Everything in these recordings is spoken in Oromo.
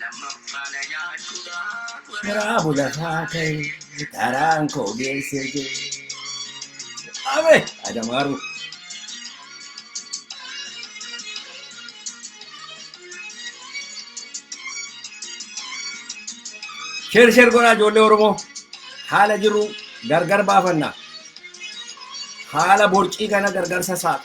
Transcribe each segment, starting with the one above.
Lammaffaa na nyaachuudhaaf Karaa waraabbii bulafaa lafaa ta'e ta'e karaan koo karaan koo geesse geesse jee. Abe! Adamaaru. Sheer sheer godhaa ijoollee Oromoo. Haala jiru gargar baafanna. Haala borcii kana gargar sassaaba.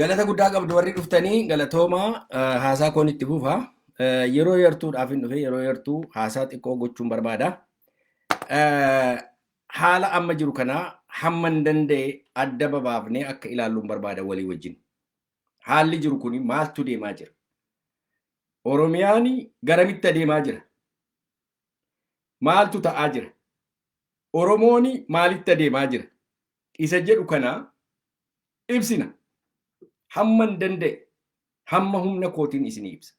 Galata guddaa qabdu warri dhuftanii galatooma eh, haasaa koon itti fufa. Eh, Yeroo yartuudhaaf hin dhufe yeroo yartuu haasaa xiqqoo gochuun barbaada. Eh, Haala amma jiru kanaa hamman danda'e adda babaafnee akka ilaalluun barbaada walii wajjin. haalli jiru kun maaltu deemaa jira? Oromiyaan garamitti adeemaa jira? Maaltu ta'aa jira? Oromoon maalitti adeemaa jira? Isa jedhu kana ibsina. Hamma hin danda'e, hamma humna kootiin isin ibsa.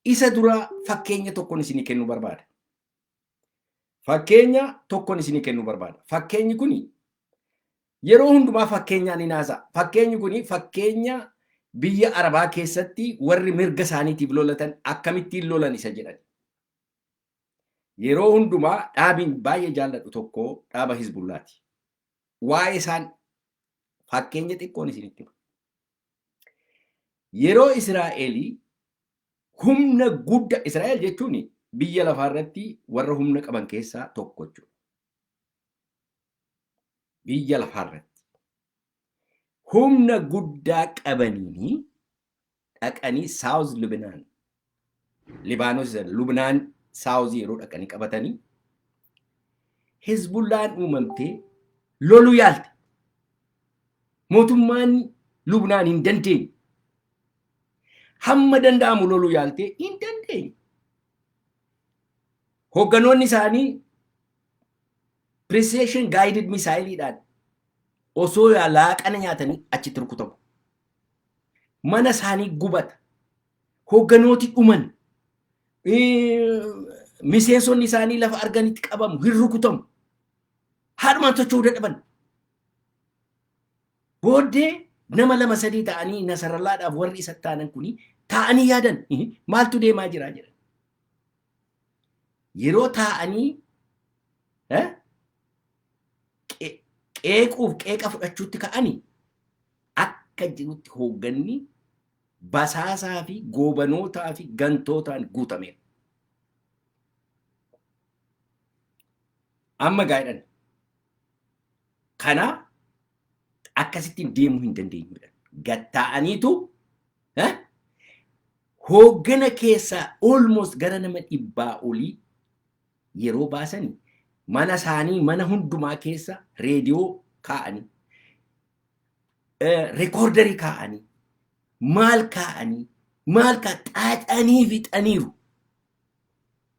Isa dura fakkeenya tokkon isin kennu barbaada. Fakkeenya tokkon isinii kennuu barbaada. Fakkeenyi kuni yeroo hundumaa fakkeenyaan hin haasa'a. Fakkeenyi kuni fakkeenya biyya Arabaa keessatti warri mirga isaaniitiif lolatan akkamittiin lolan isa jedhan. Yeroo hundumaa dhaabiin baay'ee jaalladhu tokko dhaaba Hizbullaati. Waa'ee isaan fakkeenya xiqqoon isinitti hima. Yeroo Israa'el humna gudda Israa'el jechuun biyya lafaa irratti warra humna qaban keessaa tokko jechuudha. Biyya lafaa irratti humna guddaa qabaniin dhaqanii Saawuz Libinaan Libaanos Lubnaan Saawuzii yeroo dhaqanii qabatanii Hizbullaan uumamtee loluu yaalte. Mootummaan Lubnaan hin dandeenye. Hamma danda'amu loluu yaaltee hin dandeenye. Hoogganoonni isaanii precision guided misaayiliidhaan osoo laaqana nyaatanii achitti rukutamu. Mana isaanii gubata. Hoogganooti dhuman. Miseensonni isaanii lafa arganitti qabamu, hin rukutamu. Haadhumaan socho'uu dadhaban. Booddee nama lama sadii ta'anii Nasarallaadhaaf warri isa taanan kuni taa'anii yaadan maaltu deemaa jira jedhan. Yeroo taa'anii qeequuf qeeqa fudhachuutti ka'anii akka jirutti hoogganni basaasaa fi goobanootaa fi gantootaan guutameera. Amma gaa'idhan kanaa akkasittiin deemuu hin dandeenyu jedhan. Gattaa'aniitu eh, hooggana keessaa almost gara nama dhibbaa olii yeroo baasanii mana isaanii mana hundumaa keessa reediyoo kaa'anii rekoordarii kaa'anii maal kaa'anii maal kaa xaaxanii fixaniiru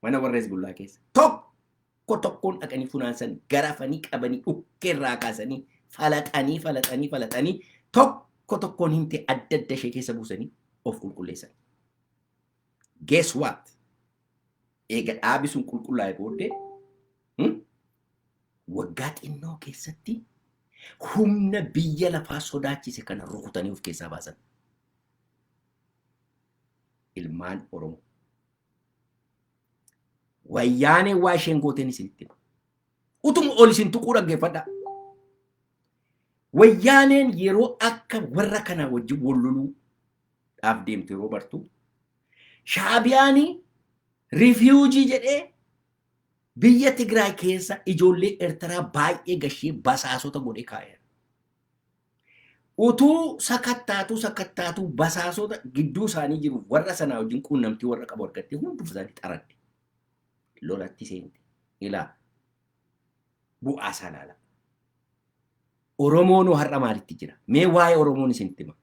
mana warra Hezbollaa keessa tokko tokkoon dhaqanii funaansan garafanii qabanii dhukkee irraa kaasanii falaxanii falaxanii falaxanii tokko tokkoon himtee adda adda ishee keessa buusanii of qulqulleessan. Guess what? Eega dhaabi sun qulqullaa'e booddee Waggaa xinnoo keessatti humna biyya lafaa sodaachise kana rukutanii of keessaa baasan. Ilmaan Oromoo. Wayyaaneen waa isheen gooteen isinitti hima. Utuma ol isin tuquu dhaggeeffadhaa. Wayyaaneen yeroo akka warra kanaa wajjin wal loluudhaaf deemtu yeroo bartu shaabiyaanii rifiwujii jedhee Biyya Tigraay keessa ijoollee Ertiraa baay'ee gashee basaasota godhee kaa'eera. Utuu sakattaatuu sakattaatuu basaasota gidduu isaanii jiru warra sanaa wajjin quunnamtii warra qabu argattee hunduma isaanii xaradde. Lolatti seente. Ilaa bu'aa isaa ilaala. Oromoonoo har'a maalitti jira? Mee waa'ee Oromoon isinitti hima.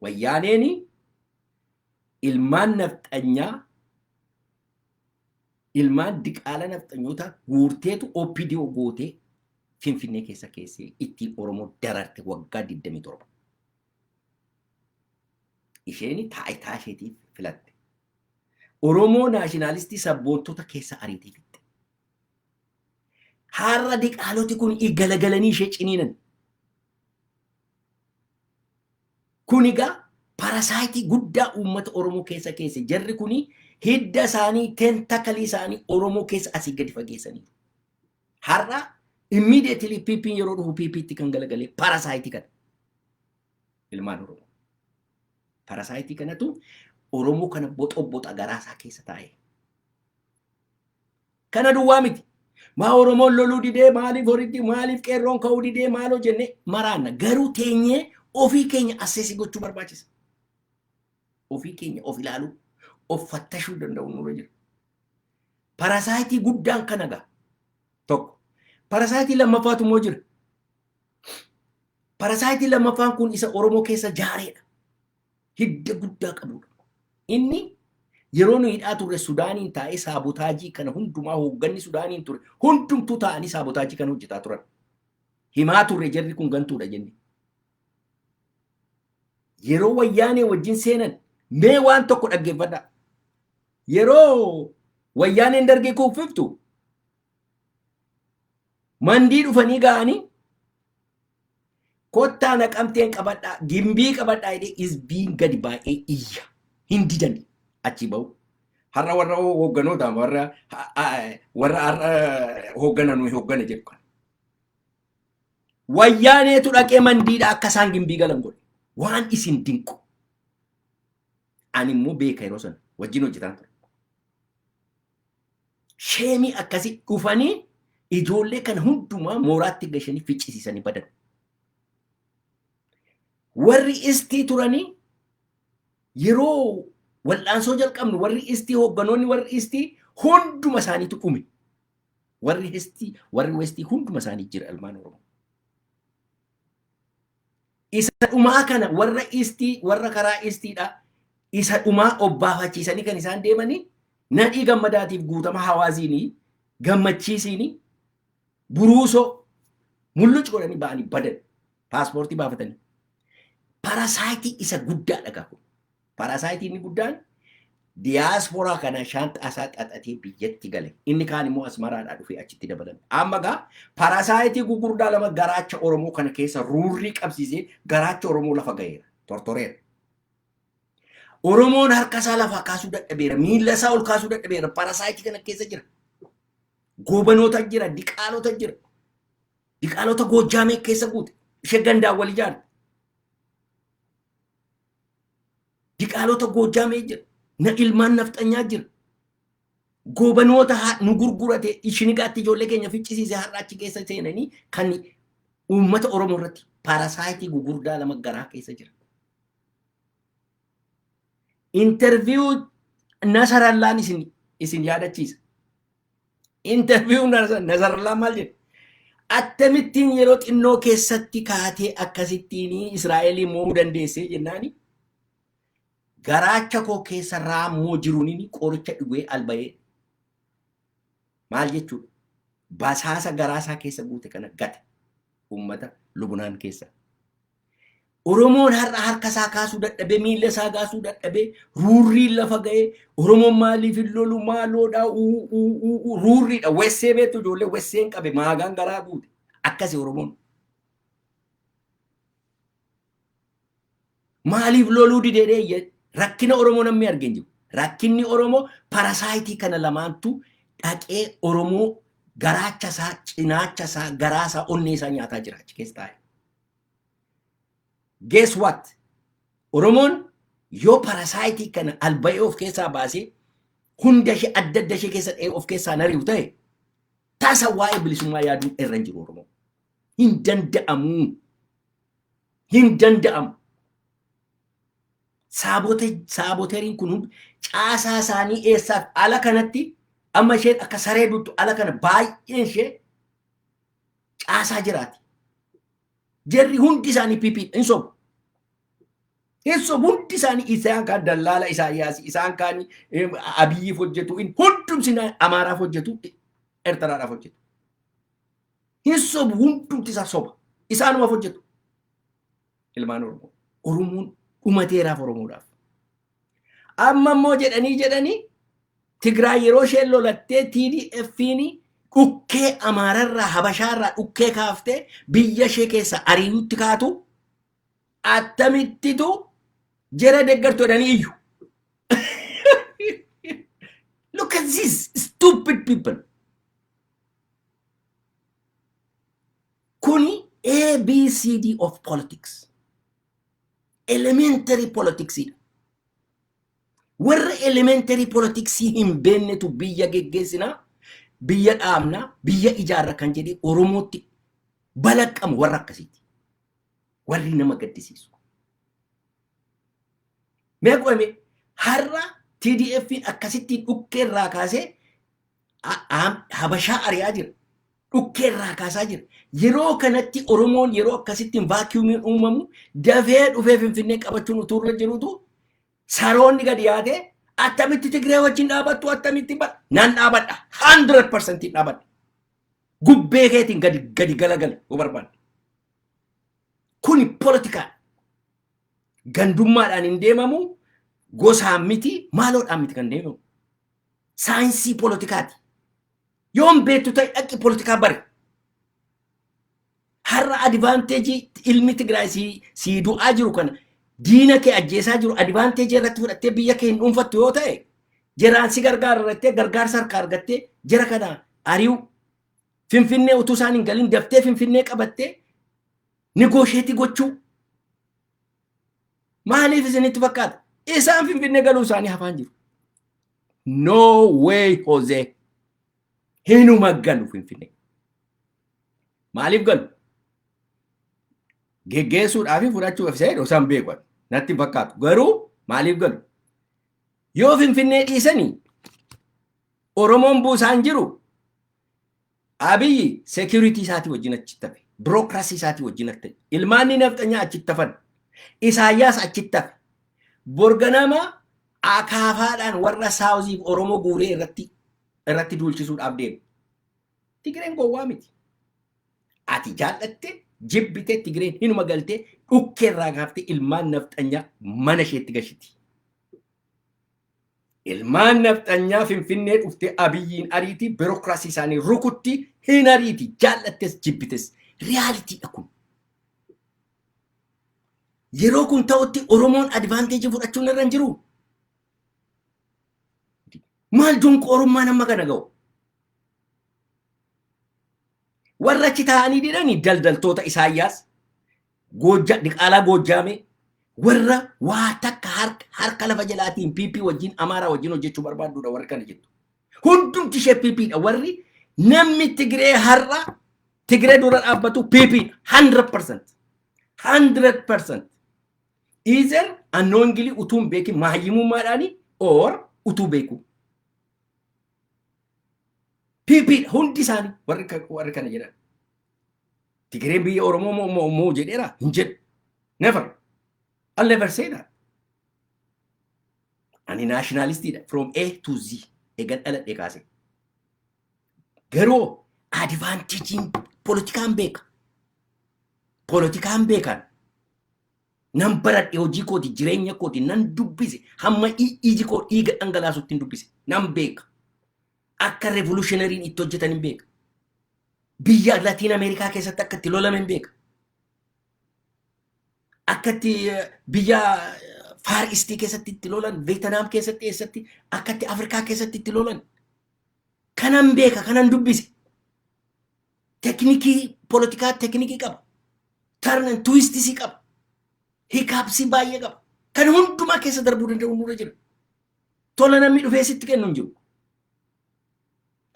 Wayyaaneen ilmaan nafxanyaa ilmaan diqaala nafxanyootaa guurteetu OPDO gootee Finfinnee keessa keessee ittiin Oromoo dararte waggaa 27. Isheen taayitaa isheetiif filatte. Oromoo naashinaalistii sabboontota keessa ariitee fixxe. Har'a diqaaloti kun galagalanii ishee ciniinan. Kuni egaa parasaayitii guddaa uummata Oromoo keessa keesse. Jarri kuni hidda isaanii, tentacle isaanii Oromoo keessa asii gadi fageessaniiru. Har'a immediately PPn yeroo dhufu PPtti kan galagalee parasaayitii kana. Ilmaan Oromoo. Parasaayitii kanatu Oromoo kana boxoboxa garaa isaa keessa taa'ee. Kana duwwaa miti. Maa Oromoon loluu didee maaliif horitti maaliif qeerroon ka'uu didee maaloo jennee maraanna. Garuu teenyee ofii keenya asseesii gochuu barbaachisa. Ofii keenya of ilaaluu, of fattashuu danda'uun nurra jira. Parasaayitii guddaan kana ga'a. Tokko. Parasaayitii lammaffaatu immoo jira. Parasaayitii lammaffaan kun isa Oromoo keessa jaareedha. hidda guddaa qabudha. Inni yeroo nu hidhaa turre Sudaaniin taa'ee saabotaajii kana hundumaa hoogganni Sudaaniin ture hundumtuu taa'anii saabotaajii kana hojjetaa turan. Himaa turre jarri kun gantuudha jenne. Yeroo wayyaanee wajjin seenan mee waan tokko dhaggeeffadha. Yeroo wayyaaneen dargee kuuffiftu mandii dhufanii ga'anii Kottaa naqamteen qabadhaa gimbii qabadhaa jedhee isbiin gadi baay'ee iyya hin didani achi ba'u. Har'a warra hoogganoota warra warra har'a hooggana nuyi hooggana jedhu kana. Wayyaaneetu dhaqee mandiidha akka isaan gimbii galan godhe. Waan isin dinqu. Ani immoo beeka yeroo sana wajjin hojjetaan ture. Sheemii akkasii dhufanii ijoollee kana hundumaa mooraatti gashanii ficcisiisanii badan. Warri istii turanii yeroo wal'aansoo jalqabnu warri istii hoogganoonni warri istii hunduma isaaniitu dhume. Warri istii warri westii hunduma isaanii jira ilmaan Oromoo. Isa dhumaa kana warra istii warra karaa istiidha isa dhumaa obbaafachiisanii kan isaan deemanii nadhii gammadaatiif guutama hawaaziinii gammachiisiinii buruusoo mulluc godhanii ba'anii badan paaspoortii baafatanii parasaayitii isa guddaadha gahu. Paaraasaayitii inni guddaan diyaaspooraa kana shaanxaa isaa xaxatee biyyatti gale. Inni kaan immoo Asmaraadhaa dhufee achitti dabalame. Amma gaa paaraasaayitii gugurdaa lama garaacha Oromoo kana keessa ruurrii qabsiisee garaacha Oromoo lafa gaheera. Tortoreera. Oromoon harka isaa lafaa kaasuu dadhabeera. Miila isaa ol kaasuu dadhabeera. Paaraasaayitii kana keessa jira. Goobanoota jira. Diqaalota jira. Diqaalota Goojjaamee keessa guute. Ishee gandaan wal ijaarte. Diqaalota Goojjaamee jira. Na ilmaan nafxanyaa jira. Goobanoota haa- nu gurgurate shinigaatti ijoollee keenya ficcisiise har'a achi keessa seenanii kan uummata Oromoo irratti paarasaayitii gugurdaa lama garaa keessa jira. Interviyuu Nasarallaan isin isin yaadachiisa. Interview Nazarallaa maal jedhe? Attamittiin yeroo xinnoo keessatti kaatee akkasittiin Israa'elii mo'uu dandeessee jennaani garaacha koo keessa raammoo jiruun qoricha dhugee alba'ee maal jechuudha? Basaasa garaasaa keessa guute kana gate uummata Lubnaan keessa. Oromoon har'a harka isaa kaasuu dadhabee miila isaa kaasuu dadhabee ruurriin lafa ga'ee Oromoon maaliif hin lolu maaloodha uu uu uu uu ruurriidha wessee beektu ijoollee wesseen qabe maagaan garaa guute akkasi Oromoon. Maaliif loluu dideedhee rakkina Oromoo namni arge hin jiru. Rakkinni Oromoo parasaayitii kana lamaantu dhaqee Oromoo garaacha isaa cinaacha isaa garaa isaa onnee isaa nyaataa jira achi keessa taa'e. Guess what? Oromoon yoo parasaayitii kana albayee of keessaa baasee hunda ishee adda adda ishee keessa dha'ee of keessaa nari'u ta'e tasa waa'ee bilisummaa yaaduun irra hin jiru Oromoo. Hin danda'amuu. Hin danda'amu. Saabote- Saaboteriin kun hundi caasaa isaanii eessaaf ala kanatti amma isheen akka saree duttu ala kana baay'een ishee caasaa jiraati. Jarri hundi isaanii PP hin sobu. Hin sobu hundi isaanii isaan kaan dallaala Isaayyaas isaan kaan Abiyyiif hojjetu hin hundumti Amaaraaf hojjetu Ertaraadhaaf hojjetu. Hin sobu hundumti isaa soba. Isaanumaaf hojjetu. Ilmaan Oromoo. Oromoon dhumateeraaf Oromoodhaaf. Amma immoo jedhanii jedhanii Tigraay yeroo isheen lolattee TDFiin dhukkee Amaararraa Habashaarraa dhukkee kaaftee biyya ishee keessa ariirutti kaatu attamittitu jara deggartu jedhanii iyyu. Look at these stupid people. Kuni ABCD of politics. elementary politics dha. Warra elementary politics hin beennetu biyya geggeessina, biyya dhaabna, biyya ijaarra kan jedhee Oromootti balaqqamu warra akkasiiti. Warri nama gaddisiisu. Mee qo'ame har'a TDF'n akkasitti dhukkee irraa kaasee Habashaa ari'aa jira. Dhukkee irraa kaasaa jira. Yeroo kanatti Oromoon yeroo akkasittiin vaakiyuumiin uumamu dafee dhufee Finfinnee qabachuun utuu irra jirutu saroonni gadi yaatee attamitti Tigree wajjin dhaabattu attamitti ba nan dhaabadha 100% dhaabadha. Gubbee keetiin gadi gadi galagale yoo barbaadde. Kuni politikaa gandummaadhaan hin deemamu gosaan miti maaloodhaan miti kan deemamu. saayinsii poolitikaati. Yoo hin beektu ta'e dhaqi poolitikaa bari. Har'a adivaanteejii ilmi Tigraay sii sii du'aa jiru kana diina kee ajjeesaa jiru adivaanteejii irratti fudhattee biyya kee hin dhuunfattu yoo ta'e jeraan si gargaara irrattee gargaarsa harkaa argattee jera kana ari'u finfinnee utuu isaan hin galin daftee finfinnee qabattee nigoosheetii gochuu Maaliif isinitti fakkaata? Isaan Finfinnee galuu isaanii hafaan jiru. No way Hozee. Hinuma galu Finfinnee. Maaliif galu? Geggeessuudhaa fi fudhachuuf isa jedhu isaan beeku. Natti hin fakkaatu. Garuu maaliif galu? Yoo Finfinnee dhiisanii Oromoon buusaan jiru Abiy security isaatii wajjin achitti hafe. Bureaucracy isaatii wajjin hafe. Ilmaanni nafxanyaa achitti hafan. Isaayyaas achitti hafe. Borganama akaafaadhaan warra saawuziif Oromoo guuree irratti irratti duulchisuudhaaf deema. Tigireen gowwaa miti. Ati jaallatte jibbite Tigireen hinuma galtee dhukkee irraa kaaftee ilmaan nafxanyaa mana isheetti gashiti. Ilmaan nafxanyaa Finfinnee dhufte Abiyyiin ariitii birokraasii isaanii rukutti hin ariiti jaallattes jibbites riyaaliitiidha kun. Yeroo kun ta'utti Oromoon advaanteejii fudhachuun irra hin jiru. Maal donqoorummaan amma kana ga'u? Warra achi taa'anii didhani daldaltoota Isaayyaas Goojja, diqaalaa Goojjaamee warra waa takka harka, harka lafa jalaatiin PP wajjin Amaaraa wajjin hojjechuu barbaadduudha warri kana jettu. Hundumti ishee PP dha warri namni Tigiree har'a Tigiree dura dhaabbatu PP dha. 100%. 100%. Either unknowingly utuu hin beekin mahayyimummaadhaani or utuu beeku. PP dha hundi isaanii warri ka- warri kana jedhan. Tigireen biyya Oromoo moo moo moo jedheera hin jedhu. Never. I'll never say that. Ani naashinaalistiidha from A to Z eegan dhaladhe kaase. Garuu adivaanteejiin poolitikaan beeka. Poolitikaan beekan. Nan baradhe hojii kooti jireenya kooti nan dubbise hamma i- iji koo dhiiga dhangalaasutti hin dubbise nan beeka. akka revolutionariin itti hojjetan hin beeka. Biyya Latiin Ameerikaa keessatti akka itti lolame hin beeka. Akka itti eh, biyya eh, Far East keessatti itti lolan, Veetanaam keessatti eessatti, akka itti Afrikaa keessatti itti lolan. Kanan beeka, kanan dubbise. Teknikii politikaa teknikii qaba. Turn and twistisii qaba. Hikaapsii baay'ee qaba. Kan hundumaa keessa darbuu danda'u nurra jira. tola namni dhufee sitti kennu hin jiru.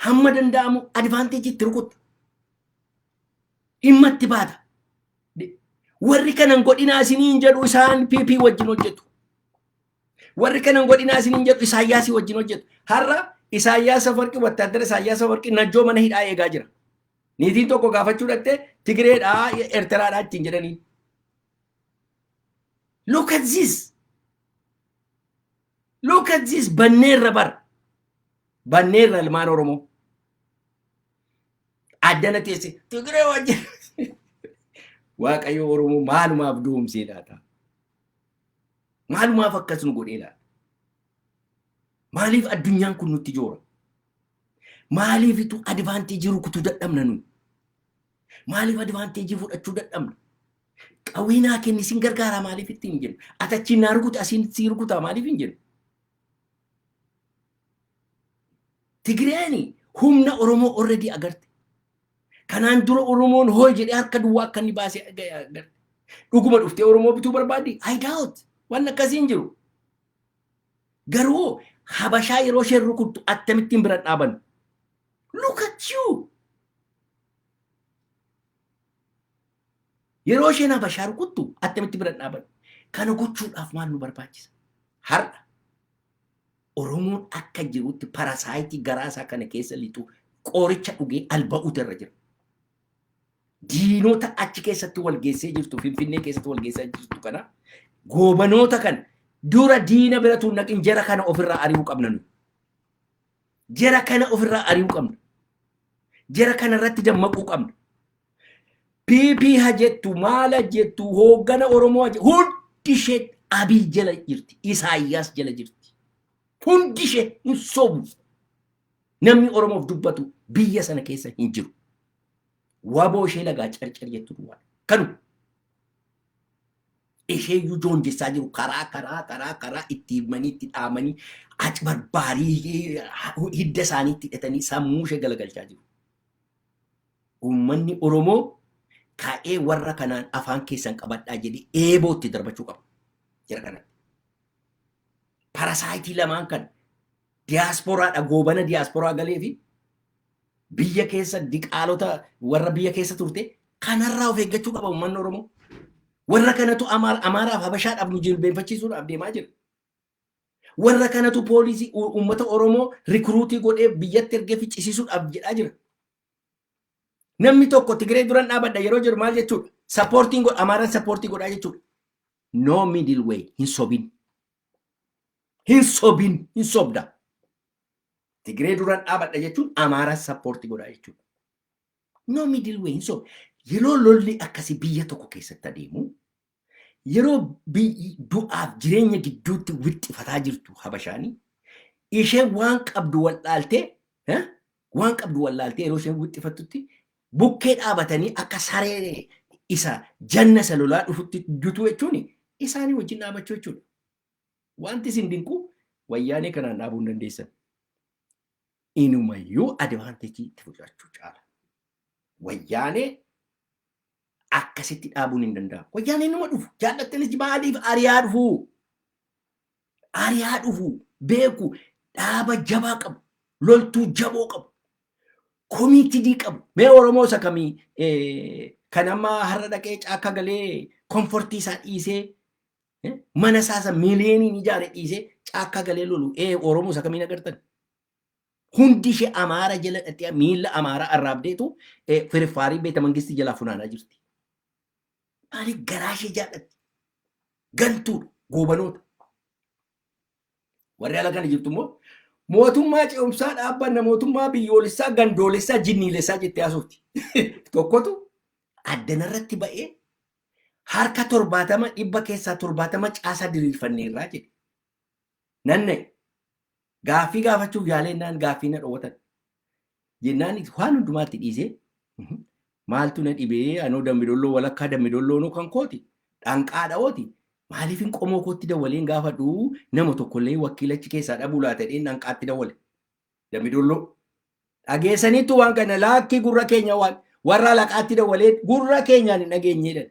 Hamma danda'amu advaanteejii itti rukutta. Dhimma itti baata. Warri kanan godhinaa isiniin jedhu isaan PP wajjin hojjetu. Warri kanan godhinaa isiniin jedhu Isaayyaasii wajjin hojjetu. Har'a Isaayyaas Afawarqii wattaaddara Isaayyaas Afawarqii najjoo mana hidhaa eegaa jira. Niitiin tokko gaafachuu dhattee Tigireedhaa Eertiraadhaa ittiin jedhanii. Look at this. Look at this banneerra bar. Banneerra ilmaan Oromoo. Addana teesse Tigiree wajjin. Waaqayyo Oromoo maalumaaf duumsee laata? Maalumaaf akkas nu godhee laata? Maaliif addunyaan kun nutti joora? Maaliifitu advaanteejii rukutuu dadhabna nuyi? Maaliif advaanteejii fudhachuu dadhabna? Qawwee naa kenni sin gargaaraa maaliif ittiin hin jennu? Ati achiin naa rukuta asiin sii rukutaa maaliif hin jennu? Tigireeni humna Oromoo already agarte. Kanaan dura Oromoon hooy jedhee harka duwwaa akka inni baasee agarte. Dhuguma dhuftee Oromoo bituu barbaaddi? I doubt. Waan akkasii hin jiru. Garuu Habashaa yeroo isheen rukuttu attamittiin bira dhaabannu? Look at you! Yeroo isheen Habashaa rukuttu attamitti bira dhaabanna? Kana gochuudhaaf maal nu barbaachisa? Har'a Oromoon akka jirutti parasaayitii garaa isaa kana keessa lixu qoricha dhugee alba'uutu irra jira. Diinota achi keessatti wal geessee jirtu Finfinnee keessatti wal geessaa jirtu kana goobanoota kan dura diina bira tuun naqin jara kana ofirraa ari'uu qabna nu. Jara kana ofirraa ari'uu qabna. Jara kana irratti dammaquu qabna. PP ha jettu maal ha jettu hooggana Oromoo ha jettu hundi ishee Abiy jala jirti Isaayyaas jala jirti hundi ishee hin sobu namni Oromoof dubbatu biyya sana keessa hin jiru waboo ishee lagaa carcar jettu duwwaa kanu ishee iyyuu joonjessaa jiru karaa karaa karaa karaa itti himanii itti dhaamanii acbarbaarii hidda isaanii itti hidhatanii sammuu ishee galagalchaa jiru. Uummanni Oromoo ka'ee warra kanaan afaan keessan qabadhaa jedhee eeboo itti darbachuu qaba. Jara kanatti. Parasaayitii lamaan kan diyaasporaadha goobana diyaasporaa galee fi biyya keessa diqaalota warra biyya keessa turte kanarraa of eeggachuu qaba uummanni Oromoo. Warra kanatu Amaaraaf Habashaadhaaf nu jilbeenfachiisuudhaaf deemaa jira. Warra kanatu poolisii uummata Oromoo rikruutii godhee biyyatti ergee ficcisiisuudhaaf jedhaa jira. Namni tokko Tigiree duran dhaabadha yeroo jiru maal jechuudha? Sappoortiin godha, Amaaraan sappoortii godhaa jechuudha. No middle way, hin sobin. Hin sobin, hin sobda. Tigiree duran dhaabadha jechuun Amaaraan sappoortii godhaa jechuudha. No middle way, hin sobda. Yeroo lolli akkasii biyya tokko keessatti adeemu, Yeroo biyyi du'aaf jireenya gidduutti wixxifataa jirtu Habashaani isheen waan qabdu wal'aaltee eh, waan qabdu wal'aaltee yeroo isheen wixxifattutti bukkee dhaabatanii akka saree isa janna isa lolaa dhufutti dutuu jechuun isaanii wajjin dhaabachuu jechuudha. Wanti isin dinqu wayyaanee kanaan dhaabuu hin dandeessan. Inumayyuu advaanteejii itti fudhachuu caala. Wayyaanee akkasitti dhaabuun hin danda'amu. Wayyaaneen numa dhufu. Jaallattanis maaliif ari'aa dhufu? Ari'aa dhufu beeku dhaaba jabaa qabu. Loltuu jaboo qabu. Komiitidii qabu. Mee Oromoo isa kamii eh, kan amma har'a dhaqee caakka galee komfortii isaa dhiisee eh, mana isaa isa miiliyooniin ijaare dhiisee caakka galee lolu. Ee Oromoo isa kamiin agartan? Hundi ishee Amaara jala dhaqee miila Amaaraa arraabdeetu eh, firfaarii beeta mangistii jalaa funaanaa jirti. Maaliif garaa ishee jaallatti? Gantuudha, goobanoota. Warri ala kana jirtu immoo mootummaa ce'umsaa dhaabbanna mootummaa biyyoolessaa gandoolessaa jinniilessaa jettee haasofti. Tokkotu addanarratti ba'ee harka torbaatama dhibba keessaa torbaatama caasaa diriirfanneerraa jedhe. Nanna'e. Gaaffii gaafachuuf yaalee innaan gaaffii na dhoowwatan. Jennaan waan hundumaatti dhiisee maaltu na dhibee anoo dambidolloo walakkaa dambidolloo kan kooti dhanqaa dha'ooti maaliif hin qomoo kootti dawwaleen gaafadhu nama tokkollee wakiilachi keessaa dhabuu laata dheen dhanqaatti dawwale. Dambidolloo dhageessaniittu waan kana laakkii gurra keenya waan warra laqaatti dawwalee gurra keenyaan hin dhageenyeedhan.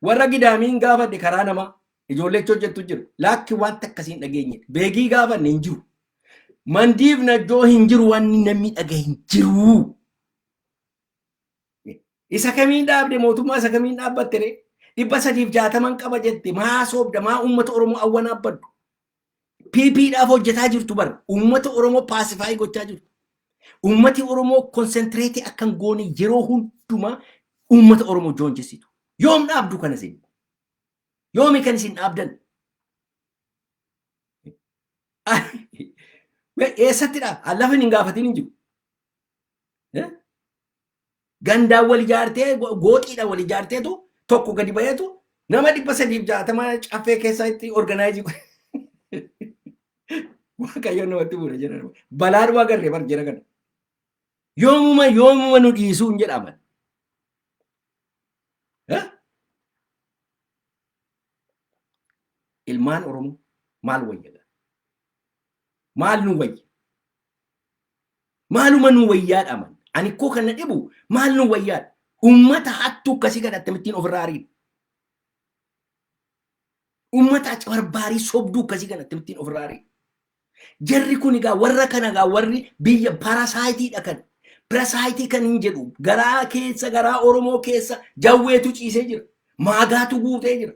Warra gidaamiin gaafadhe karaa namaa ijoollee achi hojjettu jiru. Laakki wanti akkasii hin dhageenye. Beegii gaafanne hin jiru. Mandiif najjoo hin jiru wanni namni dhaga hin jiru. Isa kamiin dhaabde mootummaa isa kamiin dhaabbatte ree? Dhibba sadiif jaataman qaba jette maa soobda maa uummata Oromoo awwanaaf baddu? PP dhaaf hojjetaa jirtu bar uummata Oromoo paasifaayii gochaa jirtu. Uummati Oromoo konsentriitii akka hin goone yeroo hundumaa uummata Oromoo joonjessitu. Yoom dhaabdu kana isin? Yoomi kan isin dhaabdan? Eessatti dhaab? Lafa hin gaafatin hin jiru. Gandaan wal ijaartee gooxiidhaan wal ijaarteetu tokko gadi baheetu nama dhibba sadiif jaatama caffee keessaa itti organaayizii waaqayyoon namatti bu'uura jedhan balaadhuma agarree bar jira kana yoomuma yoomuma nu dhiisuu hin jedhaman ilmaan oromoo maal wayyaga maal nu wayya Maaluma nuu wayyaadha aman. Ani ikkoo kan na dhibu maal nuu wayyaadha. Ummata hattuu akkasii kana akkamittiin ofirraa ariina. Ummata acabarbaarii sobduu akkasii kana akkamittiin ofirraa ariina. Jarri kun egaa warra kana egaa warri biyya parasaayitii kan pirasaayitii kan hin jedhu garaa keessa garaa Oromoo keessa jawweetu ciisee jira. Maagaatu guutee jira.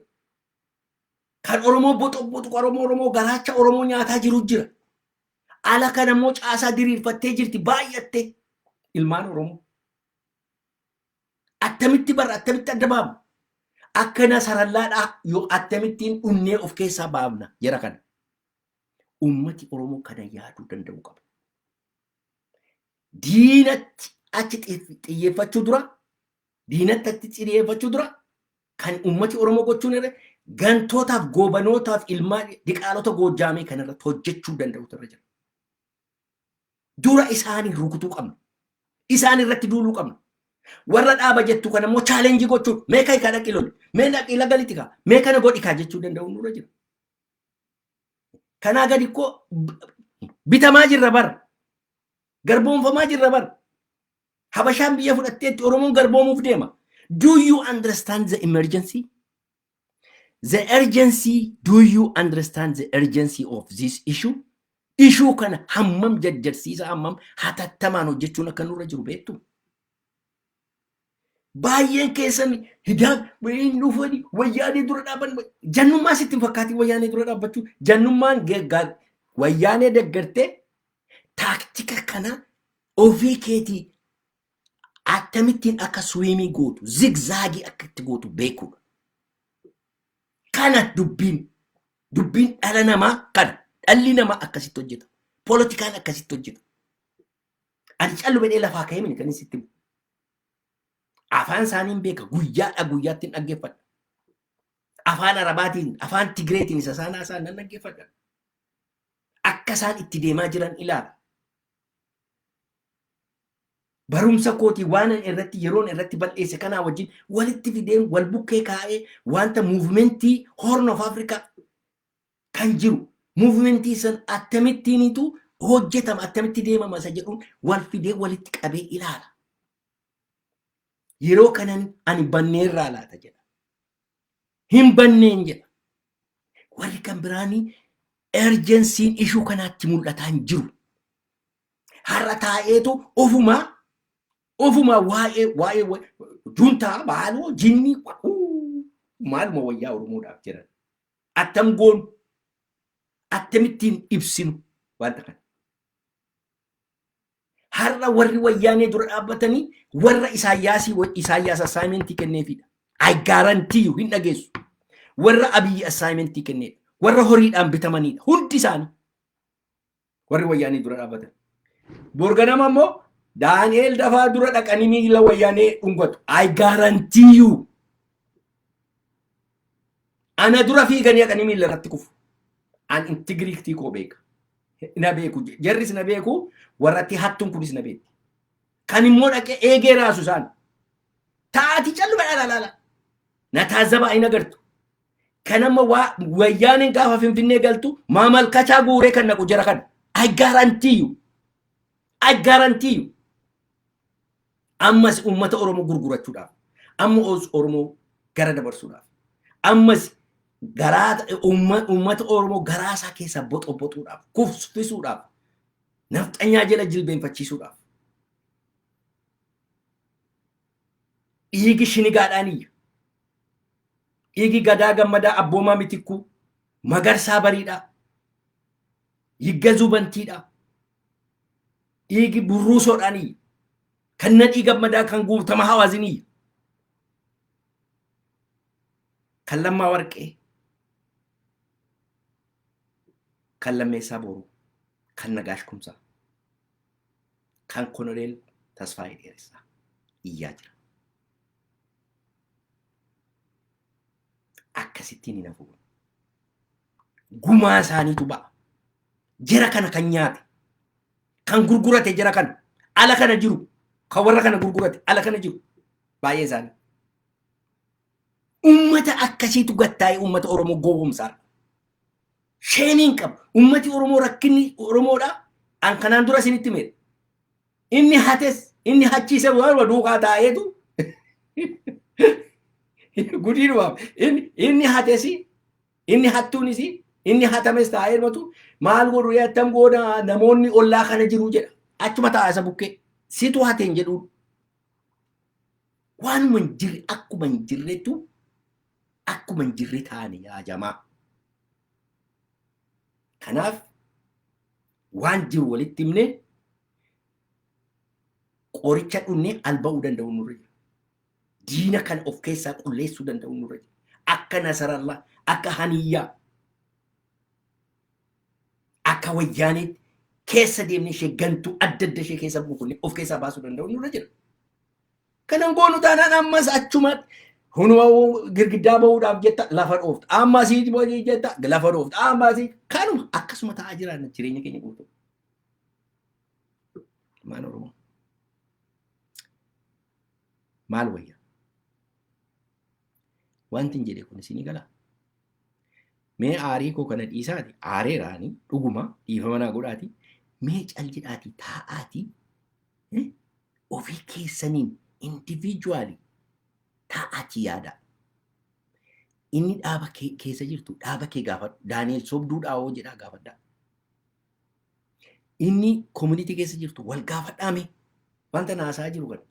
Kan Oromoo boxoqboxu Oromoo Oromoo garaacha Oromoo nyaataa jiru jira. Ala kana immoo caasaa diriirfattee jirti baay'attee ilmaan Oromoo. Attamitti barra attamitti adda baafna? Akkana sarallaadhaa yoo attamittiin dhunnee of keessaa baafna jara kana. Uummati Oromoo kana yaaduu danda'uu qaba. Diinatti achi xiyyeeffachuu dura diinatti achi xiyyeeffachuu dura Kan uummati Oromoo gochuun irra gantootaaf goobanootaaf ilmaa diqaalota goojjaamee kan irratti hojjechuu danda'utu irra jira. Dura isaanii rukutuu qabna. Isaan irratti duuluu qabna. Warra dhaaba jettu kana immoo chaalenjii gochuun mee kan kana qiloli mee dhaqii lagalitti kaa mee kana godhi kaa jechuu danda'uun nurra jira. Kanaa gadi koo bitamaa jirra bara. Garboomfamaa jirra bara. Habashaan biyya fudhatteetti Oromoon garboomuuf deema. Do you understand the emergency? The urgency, do you understand the urgency of this issue? Ishuu kana hammam jajjarsiisa hammam hatattamaan hojjechuun akka nurra jiru beektu. Baay'een keessan hidaan hin dhufani wayyaanee dura dhaaban jannummaa sitti hin fakkaatiin wayyaanee dura dhaabbachuu jannummaan geggaa wayyaanee deggartee Taaktika kana ofii keetii akkamittiin akka swiimii gootu, zigzaagii akka itti gootu beekuudha. Kana dubbiin dubbiin dhala namaa kana dhalli namaa akkasitti hojjeta. Poolitikaan akkasitti hojjeta. Ani callu bedhee lafaa ka'ee mini kan sitti himu. Afaan isaaniin beeka guyyaadha guyyaatti hin dhaggeeffadha. Afaan Arabaatiin, afaan Tigireetiin isa isaan haasa'an nan dhaggeeffadha. Akka isaan itti deemaa jiran ilaala. Barumsa kootii waan irratti yeroon irratti bal'eesse kanaa wajjin walitti fideen wal bukkee kaa'ee wanta muuvimentii Horn of Africa kan jiru muuvimentii san attamittiinitu hojjetama attamitti deemama isa jedhuun wal fidee walitti qabee ilaala. Yeroo kanan ani banneerraa laata jedha. hin banneen jedha. Warri kan biraanii erjensiin ishuu kanaatti mul'ataa hin jiru. Har'a taa'eetu ofumaa ofumaa waa'ee waa'ee wa- juntaa maaloo jinnii wa- uu, maaluma wayyaa Oromoodhaaf jiran. Attam goonu akkamittiin ibsinu wanta kana. Har'a warri wayyaanee dura dhaabbatanii warra Isaayyaasii Isaayyaas assaayimentii kenneefidha. I guarantee you hin dhageessu. Warra Abiyyi assaayimentii kenneedha. Warra horiidhaan bitamaniidha. Hundi isaanii warri wayyaanee dura dhaabbatan. Borganama immoo Daani'eel dafaa dura dhaqanii miila wayyaanee dhungatu. I guarantee you. Ana dura fiiganii haqanii miila irratti kufu. An intigiriiktii koo beeka. Na beeku. Jarris na beeku. Warratti hattuun kunis na beekti. Kan immoo dhaqee eegee raasu isaan. Taati calluma dhalaalaala. Na taazzabaa hin agartu. Kan amma waa wayyaaneen gaafa finfinnee galtu maa malkachaa guuree kan naqu jara kana. I guarantee you. I guarantee you. Ammas uummata Oromoo gurgurachuudhaaf, amma os- Oromoo gara dabarsuudhaaf, ammas garaa uumma- uummata Oromoo garaa isaa keessaa boxoboxuudhaaf, kufsfisuudhaaf, nafxanyaa jala jilbeenfachiisuudhaaf. Dhiigi shinigaadhaan iyya. Dhiigi gadaa gammadaa abboomaa mitikkuu, magarsaa bariidhaa, yiggazuu bantiidhaa, dhiigi burruusoodhaan iyya. Kan nadhii gammadaa kan guutama hawaasin iyya. Kan lammaa warqee. Kan lammeessaa booruu. Kan nagaash kumsaa. Kan konoleel tasfaa dheeressaa iyyaa jira. akkasittiin hin hafu. Gumaa isaaniitu ba'a. Jara kana kan nyaate, kan gurgurate jara kana, ala kana jiru, kan warra kana gurgurate, ala kana jiru. Baay'ee isaanii. Uummata akkasiitu gattaa'ee uummata Oromoo gowwomsaadha. Sheemiin qaba. Uummati Oromoo rakkinni Oromoodha. An kanaan dura isinitti meedha. Inni hates inni hachiise warra duukaa taa'eetu gudii dhumaaf inni hates inni hattuunis inni hatames taa'ee dhumatu maal godhu ree attam goona namoonni ollaa kana jiru jedha achuma taa'a isa bukkee situ hateen jedhuun waanuma hin jirre akkuma hin jirretu akkuma hin jirre taane yaa jamaa. Kanaaf waan jiru walitti himnee qoricha dhunnee alba'uu danda'u nurra jira. Diina kan of keessaa qulleessuu danda'u nurra jira. Akka Nasarallaa, akka Haniyyaa, akka Wayyaaneetti keessa deemnee ishee gantuu adda adda ishee keessa buufnee of keessaa baasuu danda'u nurra jira. Kan hin goonu taanaan ammas achumatti hunuma girgiddaa bahuudhaaf jetta lafa dhoofta. Amma asii booda jetta lafa dhoofta. Amma asii kanuma akkasuma ta'aa jiraanna jireenya keenya guutuu. Ilmaan Oromoo. Maal wayya? Wanti hin jedhe kun isinii galaa? Mee aarii koo kana dhiisaati aareera ani dhuguma dhiifama naa godhaati mee cal jedhaati taa'aati eh, ofii keessaniin individually taa'aati yaada. Inni dhaaba kee keessa jirtu dhaaba kee gaafadhu. Daani'el sobduudhaa hoo jedhaa gaafadhaa. Inni community keessa jirtu wal gaafadhaa mee wanta naasaa jiru kana.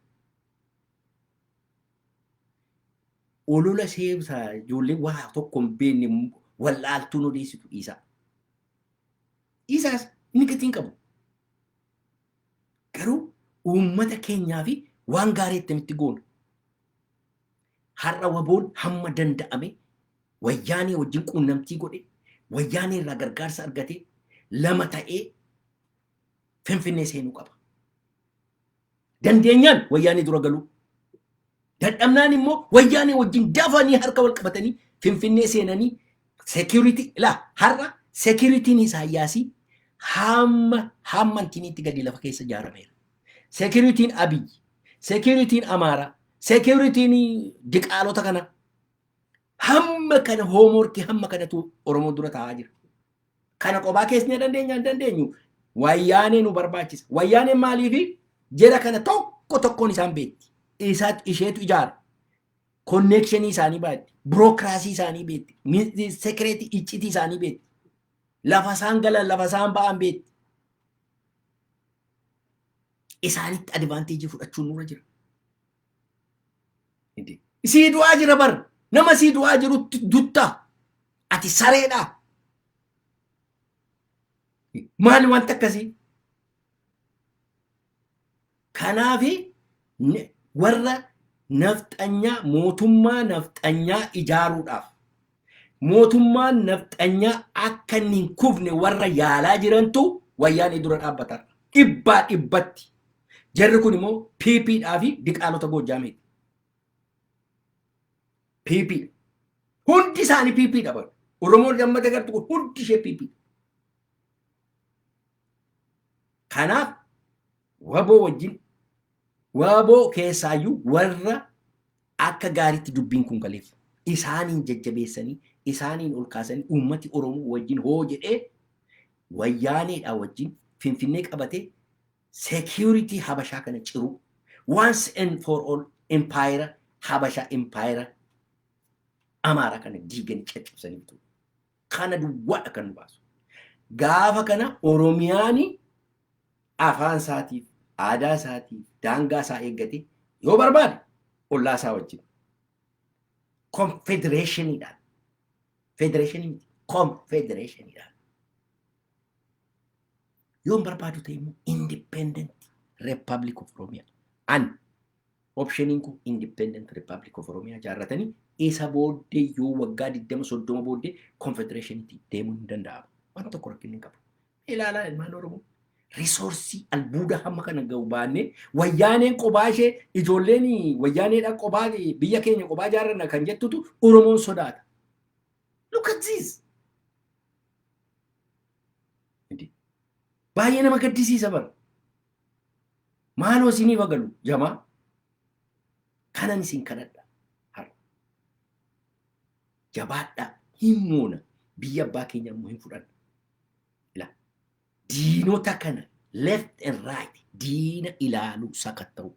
olola seebsa ijoollee waa tokko hin beekne wal'aaltuun odeessitu dhiisaa. Dhiisaas inni gatii hin qabu. Garuu uummata keenyaa fi waan gaarii ittamitti goona. Har'a waboon hamma danda'ame wayyaanee wajjin quunnamtii godhe wayyaanee irraa gargaarsa argatee lama ta'ee finfinnee seenuu qaba. dandeenyaan wayyaanee dura galuu dadhabnaan immoo wayyaanee wajjin dafanii harka wal qabatanii finfinnee seenanii security la har'a security'n isaayyaasii hamma hamma intiniitti gadi lafa keessa ijaarameera. Security'n Abiy, security'n Amaaraa, security'n diqaalota kana hamma kana hoomorkii hamma kanatu Oromoo dura taa'aa jira. Kana qobaa keessnee dandeenya hin dandeenyu. Wayyaanee nu barbaachisa. Wayyaaneen maaliifi jera kana tokko tokkoon isaan beekti. Isaat isheetu ijaara. Konneekshinii isaanii baatti. Birookiraasii isaanii beekti. Ni- Sekireetii iccitii isaanii beekti. Lafa isaan galan lafa isaan ba'an beekti. Isaanitti advaanteejii fudhachuun nurra jira. Hidi. Sii du'aa jira bar. Nama sii du'aa jirutti dutta. Ati sareedha. Maali wanti akkasii? Kanaafi n- warra nafxanyaa mootummaa nafxanyaa ijaaruudhaaf Mootummaan nafxanyaa akka inni hin kufne warra yaalaa jirantu Wayyaanee dura dhaabbata har'a. Dhibbaa dhibbatti. Jarri kun immoo PP dhaa fi diqaalota Goojjaameeti. PP dha. Hundi isaanii PP dha bara. Oromoon amma dagartu kun hundi ishee PP dha. Kanaaf waboo wajjin waboo keessaayyuu warra Akka gaariitti dubbiin kun galeef. Isaaniin jajjabeessanii, isaaniin ol kaasanii uummati Oromoo wajjin hoo jedhee Wayyaaneedhaa wajjin Finfinnee qabatee security Habashaa kana ciruu, once and for all empayera Habashaa empayera Amaaraa kana diiganii caccabsanii bituu. Kana duwwaadha kan nu baasu. Gaafa kana Oromiyaan afaan isaatiif, aadaa isaatiif, daangaa isaa eeggate yoo barbaade ollaa isaa wajjin. Konfedereeshiniidhaan. Federeeshinii miti. Konfedereeshiniidhaan. Yoon barbaadu ta'e immoo independent republic of Oromia. An Option kun Independent Republic of Oromia jaarratanii isa booddee yoo waggaa 20 30 booddee Confederation'tti deemuun hin danda'amu. Waan tokko rakkinni hin qabu. Ilaalaa ilmaan Oromoo risoorsii albuuda hamma kana ga'u baannee wayyaaneen qobaa ishee ijoolleen wayyaaneedha qobaa biyya keenya qobaa jaarranna kan jettutu Oromoon sodaata. Look at this. Baay'ee nama gaddisiisa bara. Maaloo isiniif agalu jamaa kanan isin kadhadha har'a. Jabaadhaa hin moona biyya abbaa keenya immoo hin fudhanna. Ila diinota kana left and right diina ilaaluu sakatta'uu.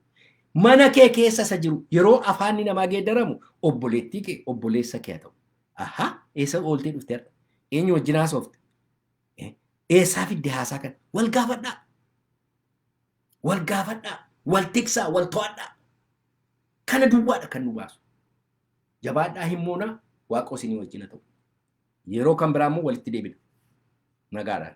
Mana kee keessa isa jiru yeroo afaanni namaa geeddaramu obboleettii kee obboleessa kee haa ta'u. Ahaa eessa ooltee dhufte har'a? Eenyu wajjin haasofte? Eessaa fidde haasaa kana? Wal gaafadhaa. Wal gaafadhaa. Wal tiksaa. Wal to'adhaa. Kana duwwaadha kan nu baasu. Jabaadhaa hin moonaa waaqoo isinii wajjin haa ta'u. Yeroo kan biraa immoo walitti deebina. Nagaadhaan.